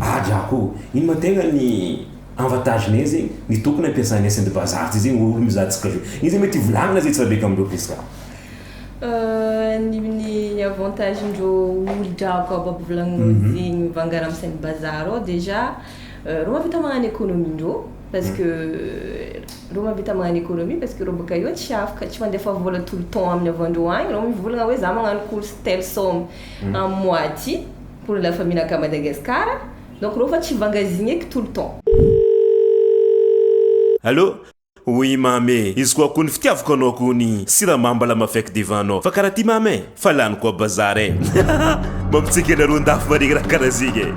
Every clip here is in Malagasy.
Ady aho. Ino ma tegna ny avantage ne zegny? Ny tokony ampiasanay saindy vazaha ty zegny olo mizaha antsika zao. Ino zay mety hivolagna zay tsiraidraika amindreo plis ka? Ny ny avantage ndreo olo drako aby aby volagninao mhm. zegny mivangara amin'ny saindy bazaha reo déjà reo mavita magnano économie ndreo parce que reo mavita magnano économie parce que reo baka eo tsy afaka tsy mandefa vola tout le temps aminy avandreo agny reo mivolagna hoe za magnano course telle somme mhm. am mois ty Pour la famille naka Madagascar donc reo fa tsy vangazigneky tout le temps. Allo, oui mamy e, izy koa kony fitiavako anao kony siramamy mbola mafeky devant nao fa karaha ty mamy e, fa lany koa bazar e, mampitsiky anareo andafy maregny raha karaha zegny e,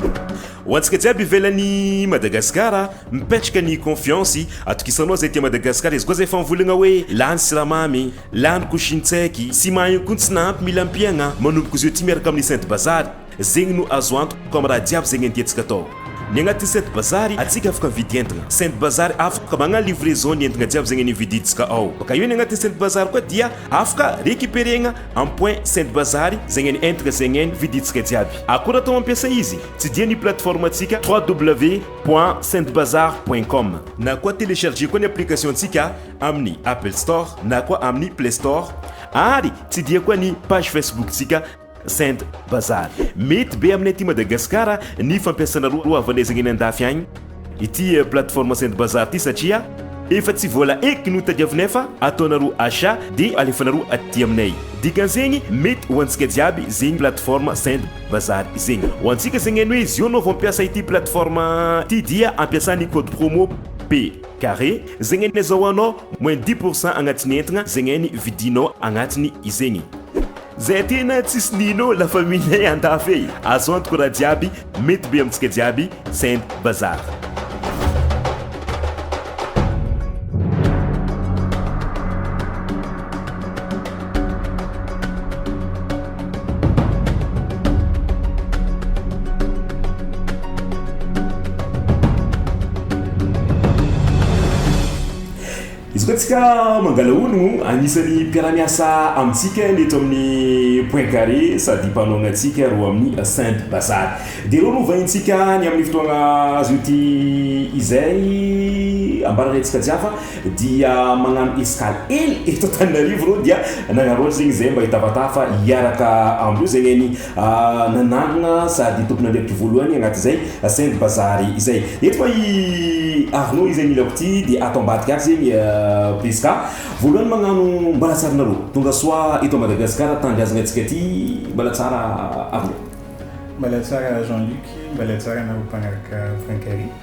ho antsika jiaby ivelany Madagascar mipetraka ny confiance atokisanao zay aty Madagascar izy koa zay efa mivolagna hoe lany siramamy, Lany ko shintseki sy mahain ko tsy nahampy mila ampiagna manomboko zeo ty miaraka aminy saint bazary zegny no azo antoka am raha jiaby zegny ententsika atao ny agnatiny saint bazary atsika afaka mividy entagna saint bazary afaka magna livraison ny entagna jiaby zegny nividintsika ao baka eo ny agnatiny saint bazary koa dia afaka recuperegna am point saint bazary zegny ny entagna zegny ny vidintsika jiaby akora atao ampiasa izy tsy dia ny plateforme atsika www point saint bazary point com na koa telecharger koa ny application tsika amin'ny Apple Store na koa amin'ny Play Store ary tsy dia koa ny page Facebook-tsika Send Bazar. Mety be aminay aty Madagasikara ny fampiasana roa havanezagna eny andafy agny ity plateforme Send Bazar ity satria efa tsy vola eky no tadiavinay fa ataonareo achat dia alefanareo aty aminay. Dikan'izegny mety ho antsika jiaby zegny plateforme Send Bazar zegny. Ho antsika zegny hainay hoe zio anao vao mampiasa ity plateforme ity dia ampiasa ny code promo P. Carré, zegny anie zao anao moins dix pour cent agnatin'ny entagna zegny any vidinao agnatiny izegny. Zay tena tsisy nino la famille ay andafy ey azo antoko raha jiaby mety be amintsika jiaby send bazar. Izy koa tsika mangalahono, anisan'ny mpiara-miasa amintsika ny eto amin'ny Point Carré sady mpanao ny antsika roa amin'ny Saint Bazar. Dia ireo no vahintsika ny amin'ny fotoana azo ity izay ambaranay antsika jiafa. dia magnano escale ely eto Antananarivo reo dia nagnarao zegny zay mba hitafatàfa hiaraka amreo zegny any nanangna sady tompon'andraikitry voalohany agnaty zay Saint Bazary izay eto koa i Arnaud izay milako ty dia ato ambadika ato zegny Prisca voalohany magnano mbalatsarnareo tongasoa eto Madagasikara tanindrazagna antsika ty mbala tsara Arnaud. Mbala tsara Jean Luc, mbala tsara anareo mpanaraka Francairie.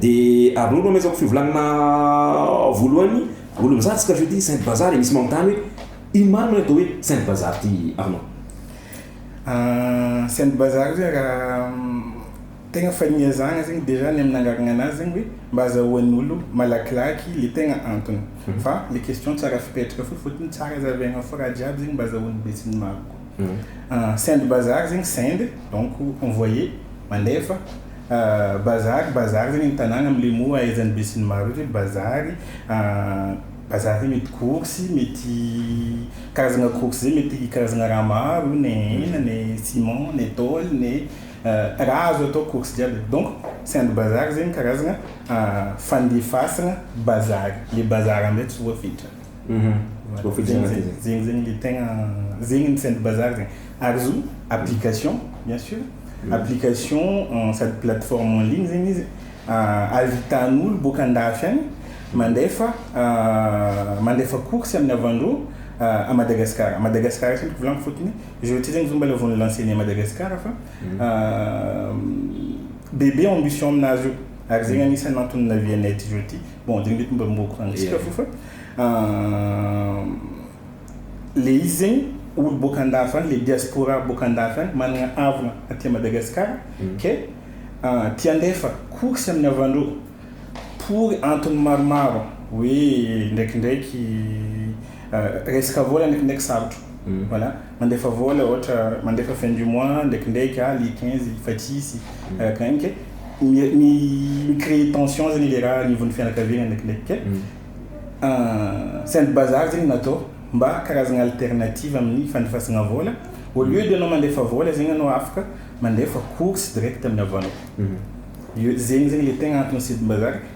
Dia aroro no amezako fivolagnana voalohany Olo mizaha tsika jeudi Saint Bazar e misy manontany hoe ino marina hoe atao hoe Saint Bazar ty Arnaud? Saint Bazar zay raha tegna fania zahagna zegny déjà ny amin'ny nangaragna anazy zegny hoe mba azahoan'ny olo malakilaky le tegna antony fa le question tsara fipetraka fo fotony tsara zavaigna fo raha jiaby zegny mba azahoan'ny betsignimaro koa. Send bazar zegny send donc envoyer, mandefa, bazar, bazar zegny ny tanàgna amin'ny mots ahaizan'ny besinimaro rehetra hoe bazary, bazary io mety course, mety karazagna course zay mety karazagna raha maro io ne hena ne ciment ne tôly ne raha azo atao course jiaby donc send bazar zegny karazagna fandefasagna bazary, le bazar amin'izay tsy voafetra. zegny zegny le tegna zegny ny sainte bazar zegny ary zo application bien sur application euh, sady plateforme en ligne zegny izy euh, ahitan'olo boaka andafy agny mandefa euh, mandefa course amin'ny avandro à Madagascar à Madagascar izy ko volagny fotony je veux dire zomba la vone lancer à Madagascar fa bébé ambition amnazy io ary zegny anisany antony navianay aty zao aty bon de mety mba mboa courant ntsika fo fa le izy zegny olo boaka andafy any le diaspora boaka andafy any managna havana aty a Madagascar ke te andefa course aminy havandreo pour antony maromaro hoe ndraikindraiky resaka vola ndraikindraiky sarotro voilà. Mandefa vola ohatra, mandefa fin du mois ndraikindraiky ah le quinze efa tsisy arakaraka mi mi-creer tension zany le raha anivon'ny fianakaviana ndraikindraiky ka saint bazar zegny natao mba karazagna alternative amin'ny fandefasagna vola au lieu de anao mandefa vola zegny anao afaka mandefa course direct amin'ny havanao, io zegny zegny le tegna antony sidim-bazary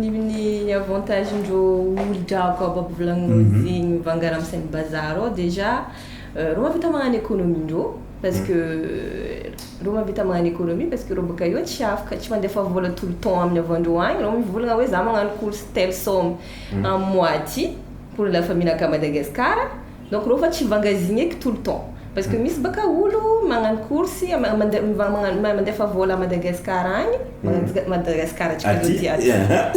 ny ny ny avantage ndreo olo-drako ao Babovolagno zegny mivangana am sain'ny bazar ao déjà reo mahavita magnano économie ndreo parce que reo mahavita magnano économie parce que reo bôka eo tsy afaka tsy mandefa vôla tout le temps amin'ny avandreo agny reo mivolagna hoe za magnano course telle somme am mois ty pour la famille nakà Madagascar Donc reo fa tsy vangazigneky tout le temps parce que misy baka olo magnano course mandefa vola à Madagascar agny Madagascar atsika zao ty aty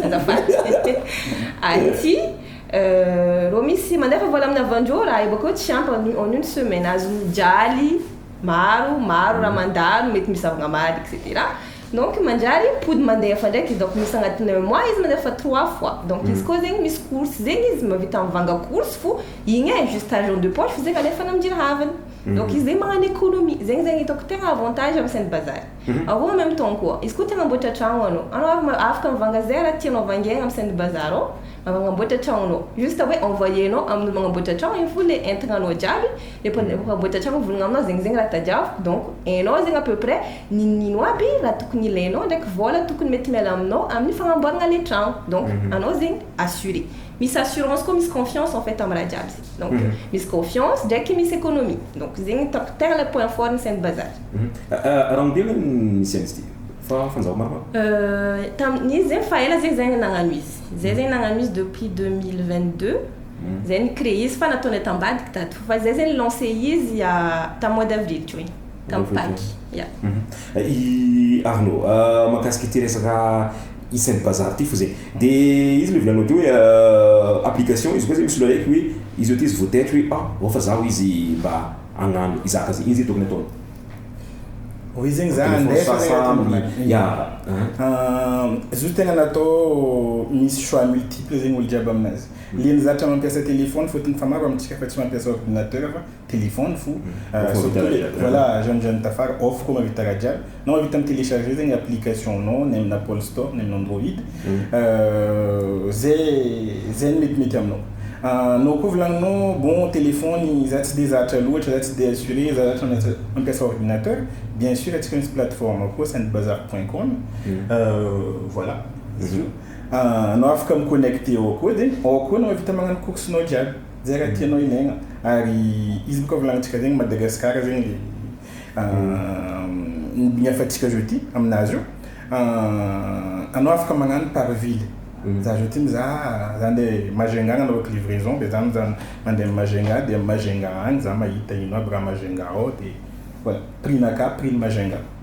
azafady aty reo misy mandefa vola amina avandreo raha io bakeo tsy ampy en en une semaine azony mijaly maro maro raha mandalo mety misy zavagna maly etc Donc manjary mpody mandeha fandraiky donc misy agnatin'ny un mois izy mandeha fa trois fois donc izy koa zegny misy course zegny izy mavita mivanga course fo igny e juste argent de poche fo zegny alefany amjira havany donc izy zegny magnano économie zegny zegny hitako tegna avantage am sainte bazary aroa en même temps koa izy koa te agnamboatra tragno anao anao ary ma- afaka mivanga ze raha tianao vangiagna am sainte bazary ao magnamboatra tragnonao juste hoe envoyer nao amin'olo magnamboatra tragno igny fo le entagnanao jiaby Efa efa boetra hatrany ny volonao aminao zegny zegny raha tadiaviko donc hainao zegny à peu près ninoninino aby raha tokony ilainao ndraiky vôla tokony mety miala aminao amin'ny fagnamboaragna le tragno donc anao zegny assuré misy assurance koa misy confiance en fait amin'ny raha jiaby zegny donc misy confiance ndraiky misy économie donc zegny hitako tegna le point fort ny Saint Bazary. Raha omby ve ny nicens ty fa fanjava maromaro? Tamin'izy zegny fa ela zegny zah nagnano izy, zay zegny nagnano izy depuis deux mille vingt deux. Zay ni cree izy fa nataony aty ambadiky daty fo fa zay zay ni lance izy tam mois d'avril teo igny tam paky ya. I Arnaud a mahakasika ity resaka isan'ny bazary ity fo zay de izy le volanao teo hoe application izy koa zay misolo araiky hoe izy ohatra izy vo tety hoe an ao fa zaho izy mba agnano hizaka zay ino zay tokony ataony Ho izy zegny za ande fa sa aminy ya izy io tegna natao misy choix multiple zegny olo jiaby aminazy Ilay nizatra mampiasa téléphone fotony fa maro amintsika fa tsy mampiasa ordinateur fa téléphone fo surtout le voilà jeune jeune tafara off koa mahavita raha jiaby na mahavita mi télécharger zegny application nao ny amina apple store ny amina android zay zay ny metimety aminao anao koa volagninao bon téléphone za tsy de zatra loatra za tsy de assuré za zatra mampiasa ordinateur bien sur atsika misy plateforme koa sendbazar point com voilà izy io. Ahh anao afaka mi connecte ao koa de ao koa anao vita magnano course nao jiaby zay raha tianao ilaigna ary izy boka volagnintsika zegny Madagascar zegny le ahh ny hafatsika zao ty aminazy io ahh anao afaka magnano par ville za zao ty mizaha za ande Majunga agnanaovako livraison de za mizaha mande am Majunga de am Majunga agny za mahita ino aby raha Majunga ao de voilà prix-na akà prix-ny Majunga.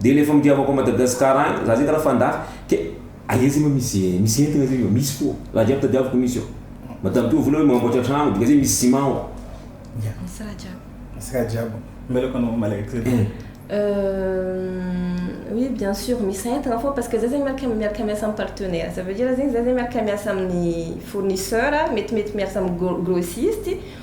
Dia le famitiavako an Madagascar agny, za zay karaha fandafy, ke aia zay ma misy misy entagna zay io, misy koa, raha jiaby tadiaviko misy ao, mba tampio vola hoe mamboatra tragno, dika zay misy ciment ao. Misy raha jiaby. Misy raha jiaby. Mvelako anao malaelo zay daholo. Euh oui bien sur misy entagna fô parce que za zay miaraka miaraka miasa am partenaire, ça veut dire zegny za zay miaraka miasa amin'ny fournisseur, mety mety miasa am gros grossiste,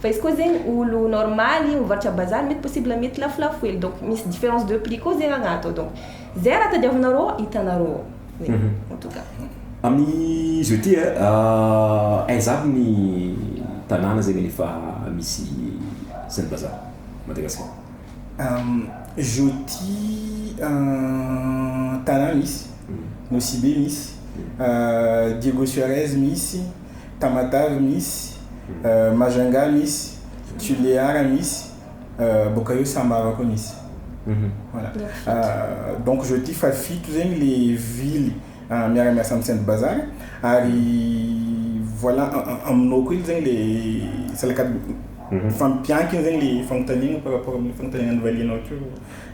Fa izy koa zegny olo normaly mivarotra à bazar mety possible mety lafolafo hely donc misy difference de prix koa zegny agnaty ao donc zay raha tadiavinareo ao hitanareo ao zegny en tout cas. Amin zao ty ah aiza aby ny tanàna zegny efa misy zany bazar Madagascar? Amin zao ty tanàna misy, Nosibe misy, Diego Suarez misy. Tamatave misy, Majunga misy, Tulear misy, boaka eo Samara koa misy. Voilà. Donc je dis fa fito zegny le ville miara miasa amin'ny Saint Bazar ary voilà aminao koa zegny le salakady mifampiankina zegny le fanontaniana par rapport amin'ny fanontaniana novalianao teo.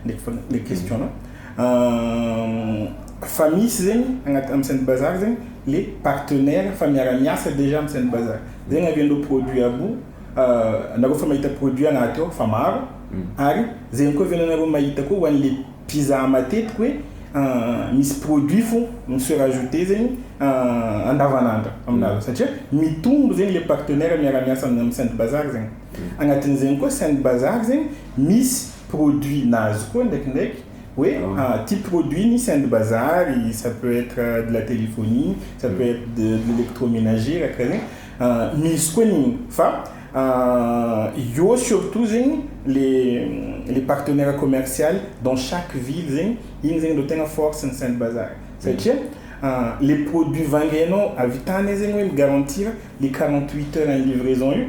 Mety foana le question nao. Ahh fa misy zegny agnaty am Saint Bazar zegny le partenaire fa miara miasa dejà am Saint Bazar zegny avy andreo produit aby io ahh nareo fa mahita produit agnaty ao fa maro ary zegny koa avy anareo mahita koa ho anle mpizaha matetiky hoe ahh misy produit fo mi se rajouter zegny ahh andavanandro aminareo satria mitombo zegny le partenaire miara miasa am Saint Bazar zegny. Agnatin'izegny koa sain'ny bazary zegny misy produit na azy koa ndraikindraiky hoe ty produit ny sain'ny bazary ça peut être de la téléphonie, ça peut être de l'électroménager raha karaha zegny misy koa ny fa eo surtout zegny le le partenaire commercial dans chaque ville zegny igny zegny ro tegna force ny sain'ny bazary satria le produit vangianao avy tany zegny hoe mi-garantir le quarante huit heures ny livraison io.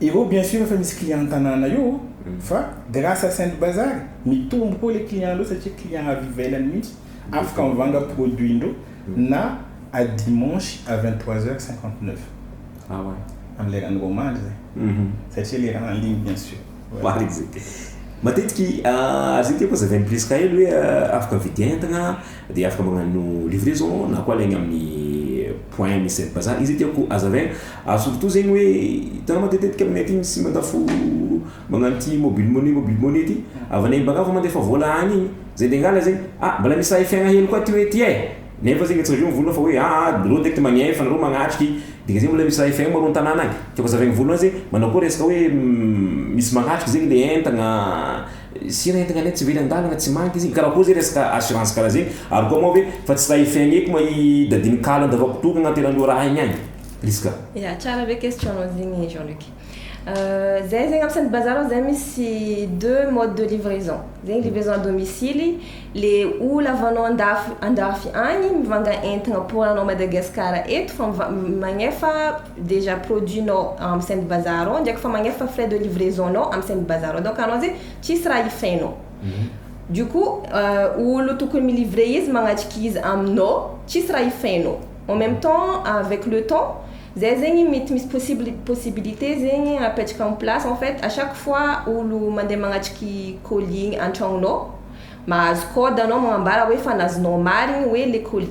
Eo bien sûr efa misy client an-tanàna eo fa grâce à Saint Bazar mitombo koa ilay client ndreo satria client avy ivelany mihitsy afaka mivanga produit ndreo na à dimanche à vingt trois heures cinquante neuf amin'ny leran'ny roa mandry zay satria le raha en ligne bien sûr. Marigny zay. Matetiky azo ity koa zavain'i Prisca io hoe afaka vidien-tagna. Dia afaka magnano livraison na koa alaigny amin'ny point misy sainte bazar, izay tiako hazavaigna, ary surtout zegny hoe hitanao matetitetika aminay aty misy mandafo magnano ity mobile money mobile money ity, avy any am-bangavo mandefa vola any igny, zay ndeha hangala zegny ah mbola misy raha efiagna hely koa aty hoe ty e, nefa zegny tsy reveo vola fa hoe aa reo direct magnefa nareo magnatriky, dika zegny mbola misy raha efiagna moa reo an-tanàna agny, tiako hazavaigny voalohany zegny manao akory resaka hoe misy magnatriky zegny le entagna. Sira entigna anie tsy very andalana tsy manka izy igny karaha koa zay resaka assurance karaha zay ary koa moa ve fa tsy raha FNEko ma i dadiny kalo andavako toa agnaty eran'ny ora aigny agny izy ka. Ya, tsara be question nao zegny Jean Luc. Zahay zegny am Sainte Bazar ao zay misy deux modes de livraison, zegny livraison à domicile, le olo avy anao andafy andafy agny mivanga entagna pour anao Madagascar eto fa miva- magnefa déjà produit nao am saint bazar ao ndraiky fa magnefa fa frais de livraison nao am saint bazar ao donc anao zay tsisy raha hifainao du coup olo tokony mi livrer izy magnatrika izy aminao tsisy raha hifainao en meme temps avec le temps zay zegny mety misy possible possibilité zegny apetraka am place en fait à chaque fois olo mandeha magnatriky colis igny antragnonao mahazo code anao magnambara hoe efa nazonao marigny hoe le colis.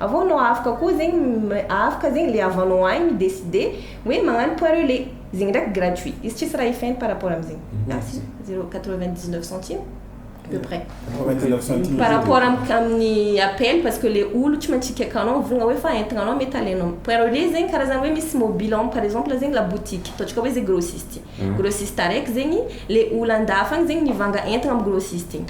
Avô nô afaka kô zegny afaka zegny le avant nô ahy mi decide hoe magnano point relais zegny ndraiky gratuit izy tsisy raha ifaigny par rapport amy zegny merci zero quatre vingt dix neuf centime à peu près par rapport aminy appel parce que le olo tsy maintsy hikeka anao mivolagna hoe efa entagna anao mety alainao point relais zegny karazagny hoe misy mobile en par exemple zegny la boutique ataontsika hoe zegny grossiste grossiste araiky zegny le olo andafy agny zegny mivanga entagna amy grossiste igny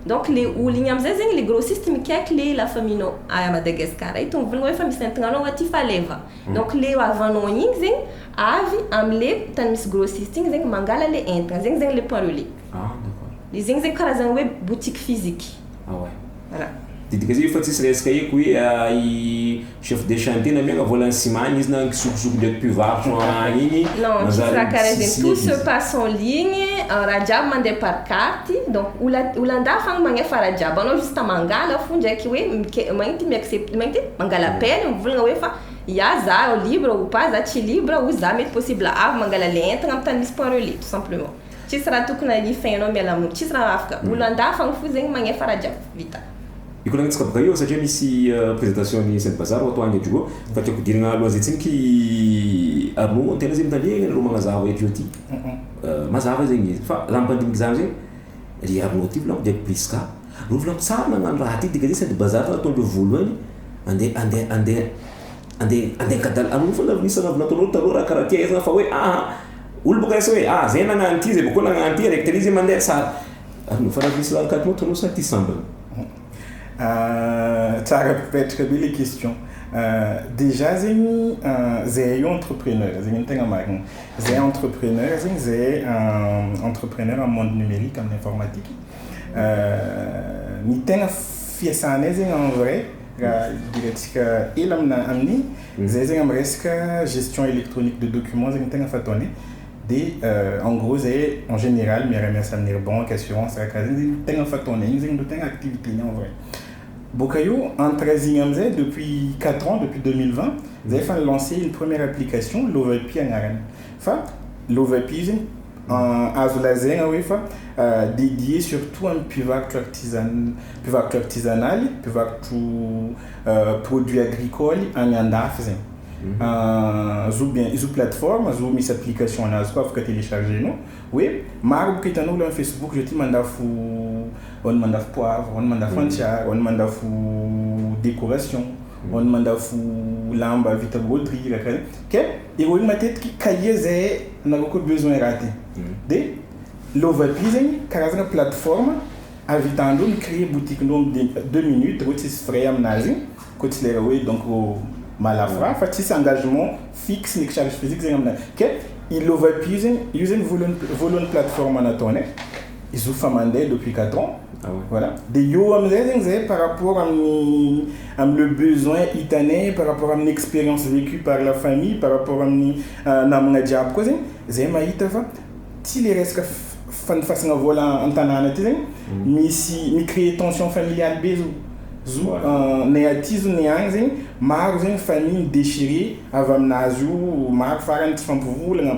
Donc le olo igny amizay zegny le grossiste mikaiky le la famille nao à Madagascar ito mivolagna hoe efa misy entagna anao aty fa aleva donc le avant nao igny zegny avy amle tany misy grossiste igny zegny mangala le entagna zegny zegny le point relais Ah d'accord. le zegny zegny karazagna hoe boutique physique. Ah ouais. Voilà. Didika zay io fa tsisy resaka eko hoe i Chef de chantier na mianga vola ny ciment any izy na kisokosoko ndreky mpivarotra any igny Non, tsy manjary karazany tsy tout se passe en ligne, raha jiaby mandeha par carte, donc ola olan-dahy fagna magnefa raha jiaby, anao juste mangala fo ndraiky hoe mike- magnino ty mi-accepte magnino ty mangala appel mivôlagna hoe fa ya za libre ou pas za tsy libre ou za mety possible avy mangala le entagna am tany misy point relais tout simplement. Tsisy raha tokony alify ianao miala aminy tsisy raha afaka olo andafy agny fo zegny magnefa raha jiaby vita. Ikolagnintsika bgay eo satria misy présentation an'i Saint Bazar ho atao agny edy roa fa tiako hodirina alohan'ny zay tsiniky Arnaud ny tena zay mitandrema ianareo magnazava eto ety mazava zegny izy fa raha mipandimby zany zay ry Arnaud ty volako dia Prisca reo volako tsara nagnano raha ty dika zay Saint Bazar ataondreo voalohany ande ande ande Ande ande angadala anao foana aloha isana avy nataonao taloha raha karaha ty aizina fa hoe aa olo boka resy hoe aa zay nagnano ty zay boka koa nagnano ty araiky tary izy mandeha tsara ary fa raha misy karaha ty sa ty sambany. Tsara mipetraka be le question dejà zegny zahay io entrepreneur zegny ny tegna marigny zahay entrepreneur zegny zahay entrepreneur am monde numerique am informatique ny tegna fiasanay zegny en vrai Raha idirantsika ela amina amin'ny zay zegny am resaka gestion electronique de documents zegny tegna fataony dia en gros zay en général miara miasa amin'ny ry banque, assurance raha karaha zegny zegny tegna fataony igny zegny ro tegna activité ny en vrai boka eo entre azy igny amizay depuis quatre ans depuis deux mille vingt zay efa ni lancer ny première application Lovapy agnarany fa Lovapy io zegny Azo lazaina hoe efa dédié surtout an'ny mpivarotro artisanal, mpivarotra artisanaly, mpivarotro produits agricoles any andafy zegny. Zo bien, izy io plateforme, zo misy application anazy koa afaka télécharger-nao, hoe maro bôka hitan'olo am facebook zao ty mandafo, ao ny mandafo poivre, ao ny mandafo antsiary, ao ny mandafo décoration, ao ny mandafo lamba vita broderie, raha karaha zay, ke. Heroin matetiky cahier izay nareo koa besoin raha ty de lovaby zegny karazagna plateforme avitan-dreo mi cree boutique-ndreo am de deux minutes reo tsisy frais aminazy koa tsy lera hoe donc mahalafo raha fa tsisy engagement fixe ndraiky charge physique zegny aminazy ke i lovaby io zegny io zegny voalohany voalohany plateforme nataony e. izy io fa mandeha depuis quatre ans Ah ouais. voilà dia eo amin'izay zegny zay par rapport amin'ny amin'ny le besoin hitanay par rapport amin'ny expérience vécue par la famille par rapport amin'ny ah, namagna jiaby koa zegny zay mahita fa tsy le resaka f- fanofasagna vôla an-tanàna aty zegny misy mi-créer tension familiale be zao zo Ouais. ah, nay aty zo nay agny zegny maro zegny famille mi-déchirer avy aminazy io maro farany tsy fampivolagna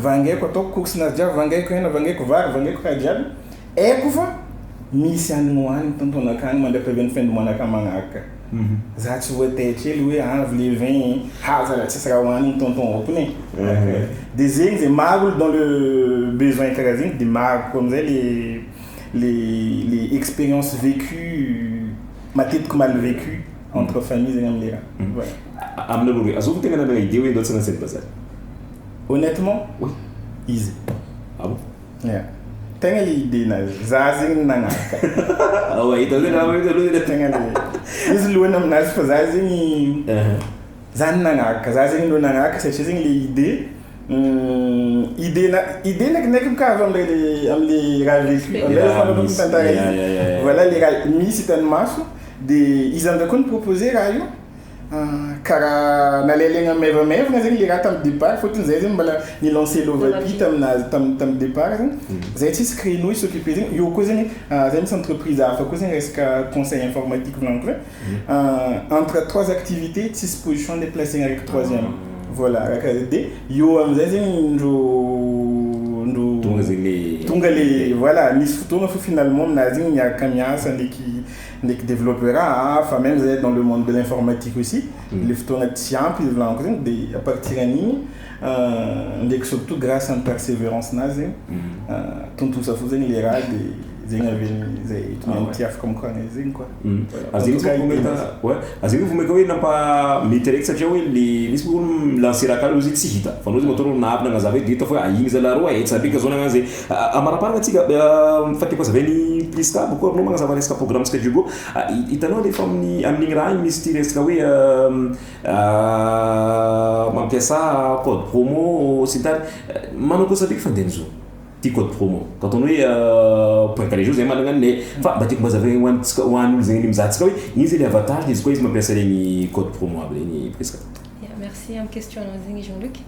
vangaiko ataoko cook sy nasdya vangaiko hena vangaiko vary vangaiko raha jiaby aiko fa misy any ho any tompony akany mandrakariva ny fendo manaka manaraka za tsy hoe te kely hoe avy le vin haza raha tsisy raha ho any ny tonton aopony e de zegny zay maro olo dans le besoin karaha zegny de maro koa amizay le le le experience vecue matetiky mal vecue entre famille zegny amle raha voilà Aminy aloha re, azoko tegna namegna idée hoe ndao tsy hanano scène bazary. Honnêtement, oui. Izy. Ah bon? Yeah. Tegna le idée nazy. Za zegny nagnaraka. Awa ita zay nama ita aloha Tegna le izy lohany aminazy fa za zegny za no nagnaraka. Za zegny aloha nagnaraka satria zegny le idée idée na idée na kinaiky bôka avy am'le le am'le raha resiko. Le Am'zay raha resiko. tantara Yeah, yeah, yeah. igny. Voilà le raha misy hitan'ny maso de izy am'zay koa ni-proposer raha io. Ka raha nalailaina maivamaivana zegny le raha tamin'ny départ fôtony zahay zegny mbôla ni-lancer lova vy taminà tam- tamin'ny départ zegny, zahay tsisy créneau hi-s'occuper zegny, eo koa zegny zahay misy entreprise hafa koa zegny resaka conseil informatique volagniko zay, entre trois activités tsisy position le placena araiky troisième, voilà raha karaha zay, de eo am'zay zegny ndro ndro Tonga zegny le tonga le voilà nisy fotoagna fô finalement aminà zegny niaraka miasa ndraiky Ndreky developer a, fa même zahay dans le monde de l'informatique aussi, le fotoana tsy ampy hivolanako zegny de à partir an'igny ndreky surtout grace an'i perseverance nazy zegny tontosa fo zegny le raha de zegny avy eo zay tonga amty afaka mokagna izy zegny quoi. Ary zegny misy olo mahita, ouais, ary zegny vao maika hoe nampa mety araiky satria hoe le misy olo mi-lancer raha karaha hoe izy tsy hita, fa anao zegny matoa anao navy nagnazava io de hita fa hoe a igny zalah rô e, hetsa be ka zao nagnano zay. Amaraparana tsika fa tiako azavay ny prisca amiko aminao magnazava resaka programme tsika diogo hitanao refa aminy amin'igny raha igny misy ty resaka hoe mampiasa code promo sy ny tariny manao kosa be fa ndegny zao ty code promo ka ataony hoe point kare zao zay managna anle fa mba tiako mba azavay ho antsika ho an'olo zegny mizaha antsika hoe ino zegny le avantage izy koa izy mampiasa regny code promo aby regny prisca. Ya merci am question anao zegny Jean Luc.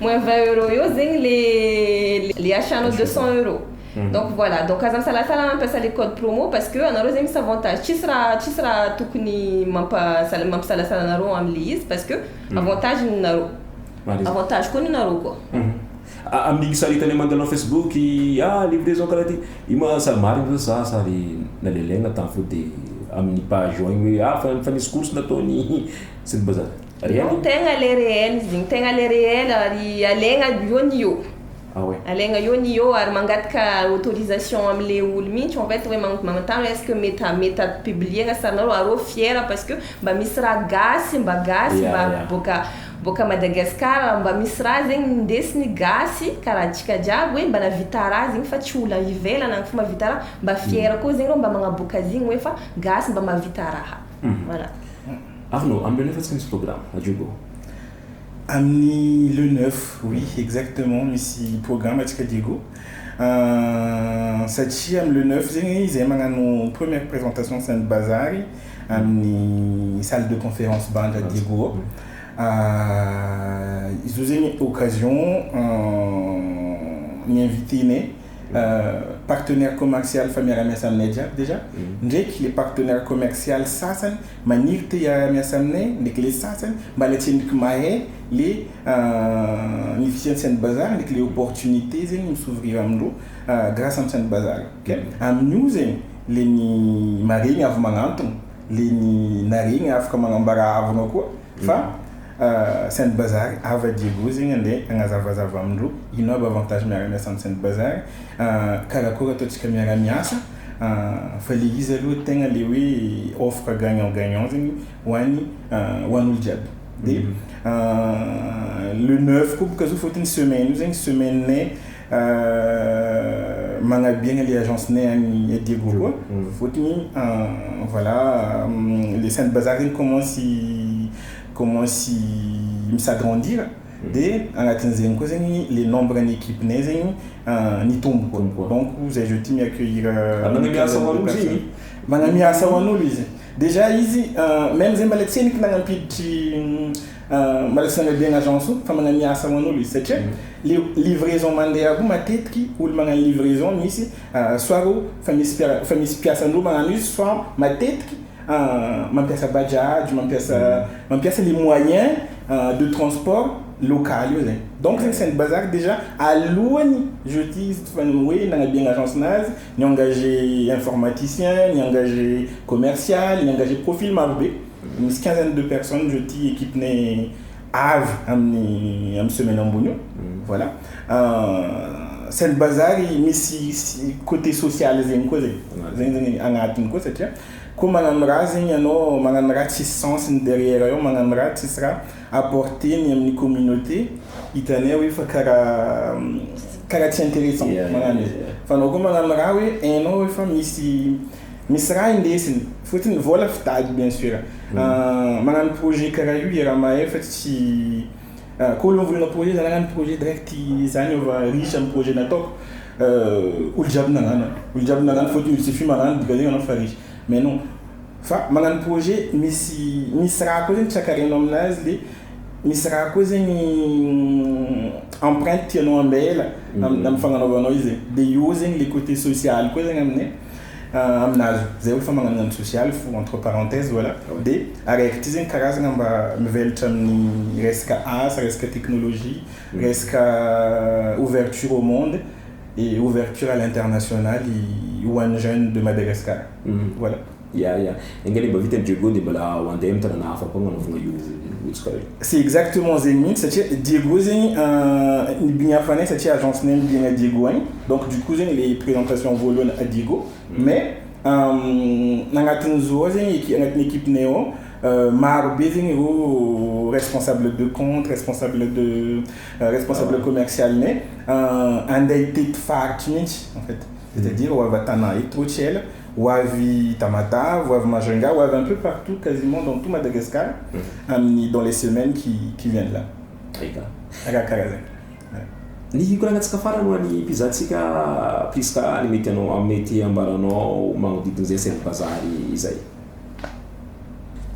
Moins vingt euros eo zegny le le achat nao deux cent euros donc voilà donc aza misalasala mampiasa le code promo parce que anareo zegny misy avantage tsisy raha tsisy raha tokony mampa sal- mampisalasala anareo amle izy parce que avantage ny nareo Marina. avantage koa ny nareo koa A- Amin'igny saritany amanganao Facebook i ah livraison karaha ty, io ma sary marigny ve sa sary nalelaigna tany foagna de amin'ny page ao igny hoe ah fa fa nisy course nataon'i Sribazary. Reo no tegna le réel zegny tegna le réel ary alegna eo ny eo. Ah ouais. Alegna eo ny eo ary mangataka autorisation amle olo mintsy en fait hoe magnotany hoe est-ce que mety a mety a publier-na sarinareo ary reo fier parce que mba misy raha gasy mba gasy mba boaka boaka Madagascar mba misy raha zegny ndesiny gasy karaha antsika jiaby hoe mba navita raha zegny fa tsy olo any ivelany any fô mavita raha mba fier koa zegny reo mba magnaboaka zegny hoe fa gasy mba mavita raha voilà. Arnaud, amin'ny le neuf atsika misy programme à Diogo. Amin'ny le neuf, oui exactement misy programme atsika Diego satria amin'ny le neuf zegny izahay magnano première présentation sy ny bazary amin'ny salle de conférence Banda Diego ao. Izy io zegny occasion ny invité-nay partenaire commercial fa miara-miasa aminay jiaby déjà ndraiky le partenaire commercial sasany. Maniry te hiara miasa aminay ny kle sasany mba le tsy mik mahay le ny fisian tsena bazar ny kle opportunite zegny mi s'ouvrir amindro grace am tsena bazar ok aminio zegny le ny maregny avy magnantogno le ny naregny afaka magnambara avy anao koa Fa Saint Bazary ava Diego zegny ande agnazavazava amindro ino aby avantage miara miasa am Saint Bazary karakôry ataontsika miara miasa fa le izy aloha tegna le hoe offre gagnant gagnant zegny ho any ho any olo jiaby de le neuf koa boka zao fôtony semaine io zegny semaine Magnaby aigna le agence nay agny Diego koa fôtony voilà le saint bazar zegny commence commence mi s'agrandir de agnatin zegny koa zegny le nombre ny equipe nay zegny nitombo donc zay je tiens mi accueillir magname asa ho an'olo izy dejà izy meme zay mbola tsy hay ny ko nagnampiditry Maraisina anao be an agence o fa manamia asa ho an'olo izy satria le livraison mandeha koa matetiky olo magnano livraison misy soit o fa misy mpiara fa misy mpiasa anao magnano izy soit matetiky mampiasa bajaj mampiasa mampiasa le moyen de transport local io zay donc zegny saint bazary dejà alohany jeudi izy tsy fa hoe nagnabe ny agence nazy ni engage informaticien ni engage commercial ni engage profil maro be Misy quinzaine de personnes ireo ity equipe ne avy amin'ny amin'ny semaine ambony io. Voilà. Saint Bazary misy côté social zegny koa zegny. Zegny zegny agnatiny koa satria koa magnano raha zegny ianao, magnano raha tsisy sens ny derrière eo, magnano raha tsisy raha apporter-ny amin'ny communauté, hitanay hoe fa karaha karaha tsy intéressant magnano izy. Fa anao koa magnano raha hoe hainao hoe fa misy Misy raha indesiny fotiny vola fitady bien sur magnano projet karaha io i Ramahay fa tsy ko olo mivolagna projet za nagnano projet direct za niova riche am projet nataoko olo jiaby nagnano olo jiaby nagnano fotony olo jiaby magnano de voatery anao fa riche mais non fa magnano projet misy misy raha ko zegny tsy akarianao aminazy de misy raha ko zegny empreinte tianao ambela am fagnanaovanao izy de eo zegny le cote social ko zegny aminay. aminazy zay hoe famaranana ny sosialy fo entre parenthèse voilà de araiky ty zegny karazagna mba mivelatra amin'ny resaka asa resaka technologie resaka ouverture au monde et ouverture à l'international i ho an'ny jeune de Madagascar voilà ya ya Enga le mba vita ny Diego de mbala ho andeha am tanana hafa koa agnanaovagna io hotsika io. C'est exactement zegny mintsy satria Diego zegny ny bigna fanay satria agence nay mibigna Diego agny donc du coup zegny le presentation voalohany à Diego mais agnatin'ny zo ao zegny agnatin'ny equipe nay ao maro be zegny reo responsable de compte responsable de responsable commercial nay andeha hitety faritry mintsy en fait. C'est à dire ho avy Tana eto hoy tsy ela, ho avy Tamatà, ho avy Majunga, ho avy un peu partout quasiment dans tout Madagascar amin'ny dans les semaines qui qui viennent là. Très bien. Arakaraka zay. Ny hikoranantsika farany ho an'ny mpizahantsika Prisca ny mety hanao mety hambaranao magnodidina izay Sel Bazary izay.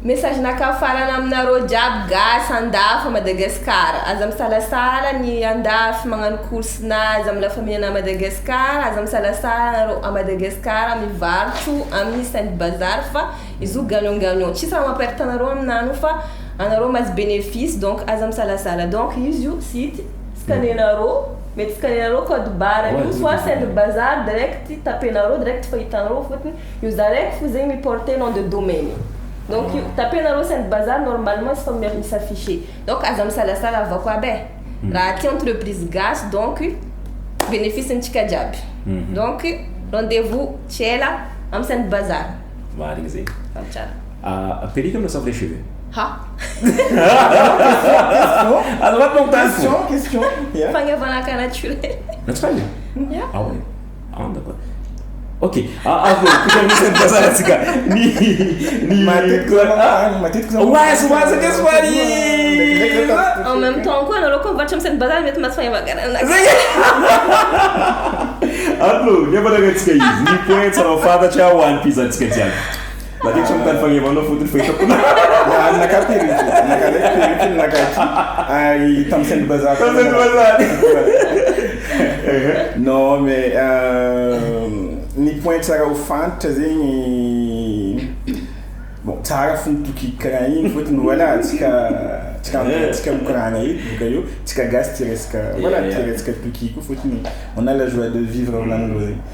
Message nakao farany aminareo jiaby gasy andafy à Madagascar aza misalasala ny andafy magnano course na aza mila faminana à Madagascar aza misalasala nareo à Madagascar mivarotro amin'ny sainte bazar fa izy io gagnant gagnant tsisy raha mamperte anareo aminany io fa anareo mahazo bénéfice donc aza misalasala donc izy io site scanenareo mety scanenareo code barre io soit sainte bazar direct tapenareo direct fa hitanareo fotony Io za raiky fo zegny mi porter nom de domaine e. Donc io tapenareo Saint Bazar normalement tsy fa mia- mi s'afficher. Donc aza misalasala avako aby e. Raha aty entreprise gasy donc bénéfice ntsika jiaby. Donc rendez vous tsy ela am Saint Bazar. Marigny zegny. Fa tsara. A perruque anao sa vrai cheveux? Ha! Azafady mampitany fo. Question, question, yeah. Fagnavana ka naturel. Naturel? Yeah. Ah ouais? Angamba. Ok, avy eo, koa misy ny fasarantsika ny ny matetika ah, matetika zany oazy oazy akeo somary en même temps koa anareo koa mivarotra misy ny bazary mety mahatsy fahevagana anaka zegny allo ny amanaranatsika izy ny point tsara fantatra ho an'ny pizantsika jiaby Na dia tsy mitady fagnevana fotony fa hitako na naka perruque, naka lay perruque ny naka aty. Ary tamin'ny sain'ny bazary. Tamin'ny sain'ny bazary. Non mais euh, ny point tsara ho fantatra zegny bon tsara fo mitoky karaha igny fotony voilà tsika tsika eh. tsika mikoragna eto boka eo tsika gasy tsy resaka voilà eh. tsy resaka toky koa fotony on a la joie de vivre volagnin-dreo zegny.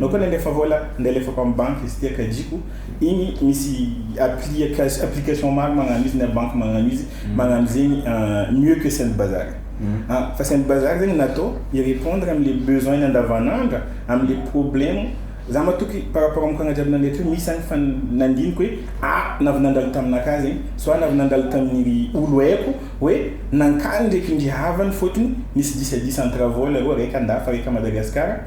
Nao koa nandefa vola ndeha alefako am banky izy tia kajiko igny misy appliacation application maro magnano izy na banky magnano izy magnano zegny mieux que send bazar a fa send bazar zegny natao hi repondre am le besoin nandavanandra am le problème za matoky par rapport am kagna jiaby nandre teo misy agny fa nandiniko hoe a na avy nandalo taminakahy zegny soit na avy nandalo tamin ry olo aiko hoe nankany ndreky ndry havany fôtony nisy disadisa entre vola roa raiky andafa raiky a Madagascar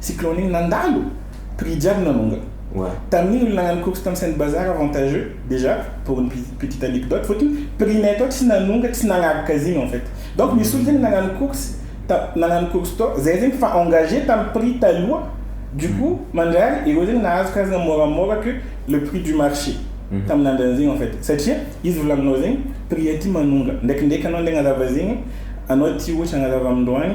Cyclone iny nandalo! Prix jiaby nanongana. Tamin'iny olona nagnano course tam Saint Bazar avantageux déjà pour une petite anecdote fotony prix nay tao tsy nanonga tsy nagnaraka zigny en fait donc misy olo zegny nagnano course ta nagnano course tao zay zegny fa engagé tam prix taloha du coup mandrary ireo zegny nahazo karazagna môramôra que le prix du marché tamin'andran'zegny en fait satria izy volagninao zegny prix aty manonga ndraikindraiky anao nde agnazava zegny anao aty ohatry agnazava amindroany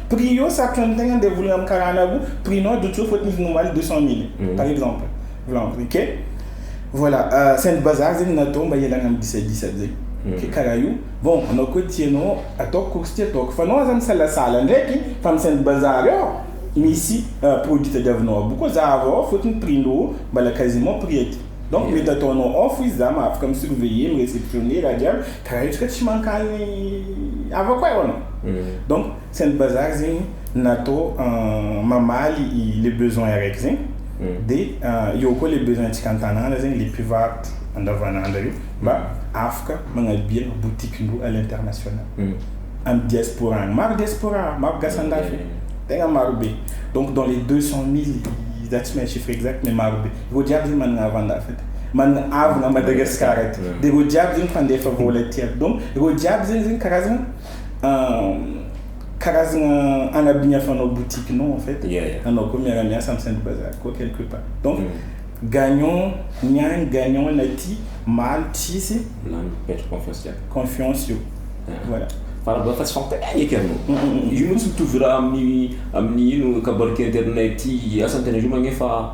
Prix eo sarotra ny tegna ndeha volagna amin'ny karana roa, prix nao ajotsy eo fôtony izy nomaly deux cent mille par exemple, volan prix ke voilà saingy bazary zegny natao mba hialagna amin'ny disadisa zay ke karaha io, bon anao koa tia anao ataoko course ty ataoko fa anao aza misalasala ndraiky fa amin'ny saingy bazary ao misy produit tadiavinao aby koa zahavo ao fôtony prix ndrô mbala quasiment prix aty donc mety ataonao off izy za mahafaka mi surveiller mi receptionner raha jiaby. Ka raha hetsika tsy mankany havako ay hoanao. Donc saint bazar zegny natao mamaly le besoin araiky zegny de eo koa le besoin tsika antanàna zegny le mpivarotra andavanandra io mba afaka magnalbia boutique ndreo à l'international am diaspora agny maro diaspora maro gasy andafy tegna maro be donc dans les deux cent mille za tsy mahay chiffre exact mais maro be. Reo jiaby zany managna havana hafa ty, managna havana Madagascar ty, de reo jiaby zegny mpandefa vola ty aby, donc reo jiaby zegny zegny karazagna karazagna agnabigny afanao boutique nao en fait, anao koa miara miasa am Saint bazar koa quelque part, donc gagnant ny agny gagnant ny aty, maly tsisy confiance eo, voilà. Fa raha fa tsy fampitainay eky anao, io tsy mitovy raha amin'ny amin'ny ino kabary kely aty aminay aty, asa ny tena zoma anie fa.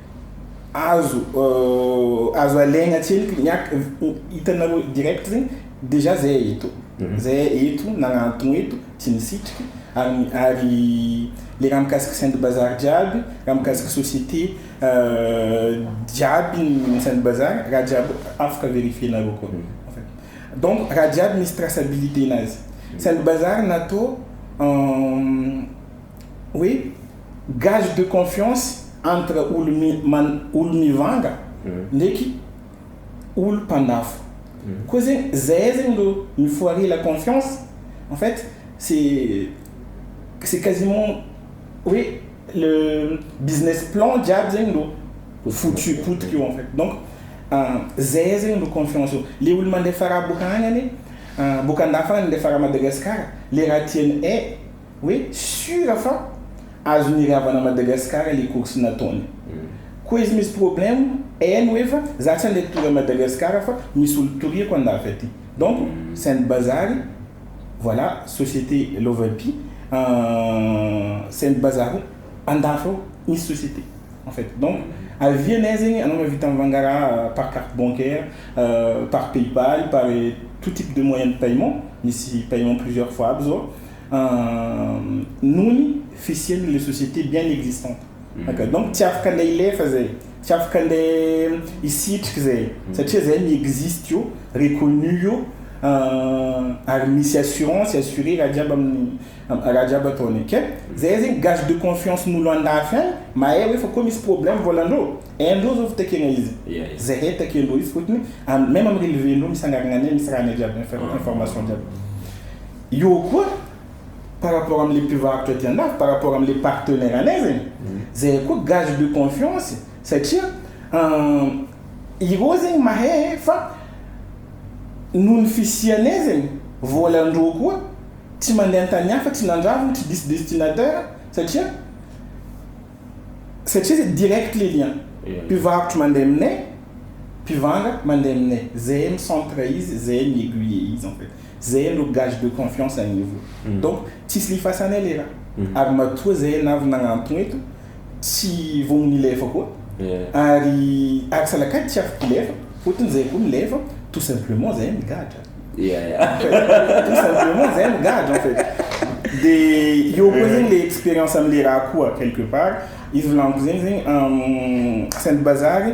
azo azo alaigna tsiliky ny ak- hitanareo direct zegny déjà zay eto mhm. zay eto nagnantogno eto tsy nisitriky ary ary le raha mikasika saint bazar jiaby raha mikasika société euh, jiaby ny saint bazar raha jiaby afaka vérifienareo koa mhm. donc raha jiaby misy traçabilité nazy mhm. saint bazar natao euh, hoe gage de confiance entre olo mivanga ndraiky olo mpandafo koa zegny zay zegny ro mifoarie la confiance en fait c'est quasiment hoe le business plan jiaby zegny ro foutu potika eo en fait donc zay zegny ro confiance io le olo mandefa raha boka agny anie boka andafy agny mandefa raha Madagascar le raha tiany eh. hoe sure fa azony iravana Madagascar le course nataony ko izy misy problème eny hoe fa za tsy ande tour à Madagascar fa misy olo toriako andafy aty donc c'est un bazary voilà société lovapy c'est un bazary andafy ao misy société en fait donc avis anay zegny anao mihavita mivanga raha par carte bancaire par paypal par tout type de moyen de paiement misy paiement plusieurs fois aby zao nony fisiany le société bien existante aka donc tsy afaka ndeha hilefa zay tsy afaka ndeha hisitrika zay satria zay mi existe io reconnu io ary misy assurance assuré raha jiaby amin'ny raha jiaby ataony ok zay zegny gage de confiance n'olo andafy any mahay hoe fa koa misy problème volan-dreo hain-dreo zao fitakena izy zay hay takian-dreo izy fotony meme am relevé-ndreo misy agnarana anay misy raha anay jiaby information jiaby Io koa par rapport am le mpivarotra ety andafy, par rapport am le partenaire anay zegny, zay koa gage de confiance satria ireo zegny mahay fa noho ny fisianay zegny voalandreo koa tsy mande antany hafa tsy nandravogny tsy diso destinateur satria satria zay direct le lien mpivarotro mande aminay mpivanga mande aminay zay mi centre izy zay mi aiguiller izy en fait. Zay aloha gage de confiance an'i Ivo. Donc tsisy lifasana aleha. Ary matoa zay ianaro nagnantogna eto tsy vao milefa koa ary ary salakady tsy afaka hilefa fotony zay koa milefa tout simplement zay ny gadra. Ia ia. Tout simplement zay ny gadra en fait. De eo koa zegny le experience amle raha koa quelque part izy volagniko zegny zegny sainte bazary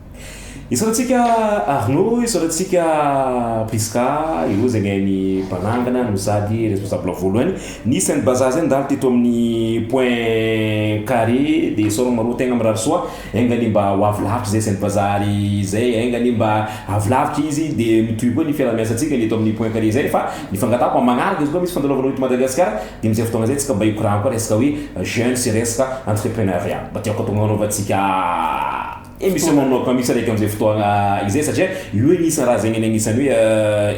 Isaorantsika Arnaud, isaorantsika Prisca, eo izay ny hainy mpanangana no sady responsable voalohany. Nisy zany bazar zay nandalo teto amin'ny point carré dia isaorana anareo tegna mirary soa. Enga anie mba ho avy lavitra izay sain'ny bazar izay, enga anie mba avy lavitra izy dia mitohy koa ny fiaraha-miasantsika ny eto amin'ny point carré izay fa ny fangatahako amin'ny magnaraka izy koa misy fandalovanao eto Madagasikara dia amin'izay fotoagna izay antsika mba hikoragna koa resaka hoe jeunes sy resaka entreprenariat mba tiako atao anaovantsika Emission mamonoka mihitsy araka amin'izay fotoagna izay satria io anisany raha zegny agnisany hoe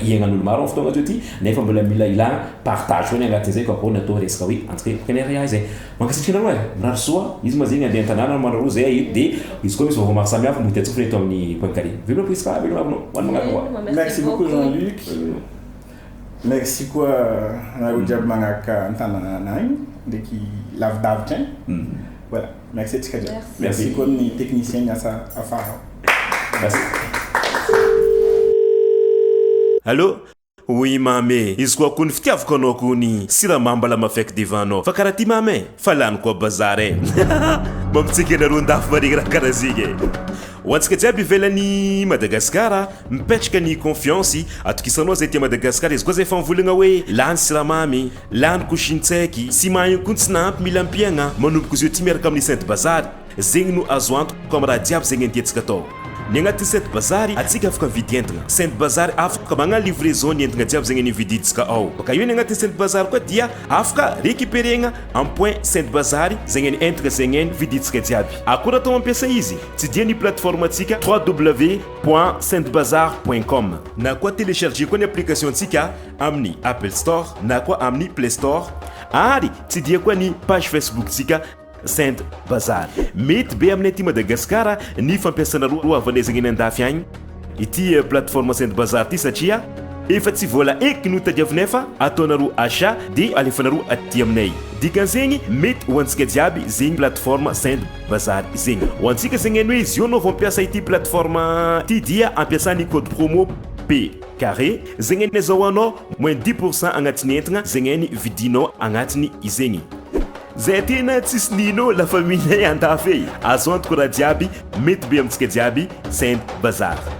iainan'olo maro am'fotoagna atsio ty nefa mbola mila ilagna partage foagna agnatin'izay ka vao natao resaka hoe antsika hoe Kenya Reha izay. Mankasitraka anareo e! Mirary soa, izy ma zegny andeha an-tanàna no manao zay e de izy koa misy vaovao maro samy hafa mody atsofony eto amin'ny Poincaré. Veloma Prisca, veloma abno, ho an'ny magnaraka koa. Merci beaucoup Jean Luc. Merci koa anareo jiaby magnaraka an-tanana agny ndraiky lavidavitra agny. Voilà, merci antsika jiaby. Merci koa ny technicien miasa afara ao. Allô? Oui mamy e, izy koa kony fitiavako anao kony siramamy mbala mafeky devant anao fa karaha ty mamy e, fa lany koa bazar e. Mampitsiky anareo ndafy maregnaraka karaha zegny e. Ho antsika jiaby ivelany Madagasikara, Mipetraka ny confiance, atokisanao zay aty Madagascar izy koa zay famvolagna hoe lany siramamy, lany koshintsaiky, sy mahay ihany koa ny tsy nahampy mila ampiagna, manomboka zio aty miaraka amin'ny sainte bazary, zegny no azo antoko amin'ny raha jiaby zegny antiantsika atao. Ny agnatin'ny sainte bazary atsika afaka mividy entagna, sainte bazary afaka magna livraison ny entagna jiaby zegny nividintsika ao, baka eo ny agnatin'ny sainte bazary koa dia afaka recuperegna amin'ny point sainte bazary zegny ny entagna zegny vidintsika jiaby, akora atao mampiasa izy tsy dia ny plateforme antsika www. point saintbazar point com na koa telecharger koa ny application ntsika amin'ny apple store na koa amin'ny play store ary tsidiha koa ny page facebook ntsika saint bazar mety be amin'ny aty madagasikara ny fampiasana roa roa avanezagna eny andafy agny ity plateforme saint bazar ity satria efa tsy vola eky no tadiavinay fa ataonareo achat dia alefanareo aty aminay dikan'izegny mety ho antsika jiaby zegny plateforme saint Bazary zegny. Ho antsika zegny hainy hoe izy io anao vao mpiasa ity plateforme ty dia ampiasa ny code promo P carré zegny hainy zao anao moins dix pour cent agnatin'ny entgna zegny hainy vidinao agnatiny izegny. Zay tena tsisy nino la famille nay andafy ey. Azo antoko raha jiaby mety be amintsika jiaby send bazary.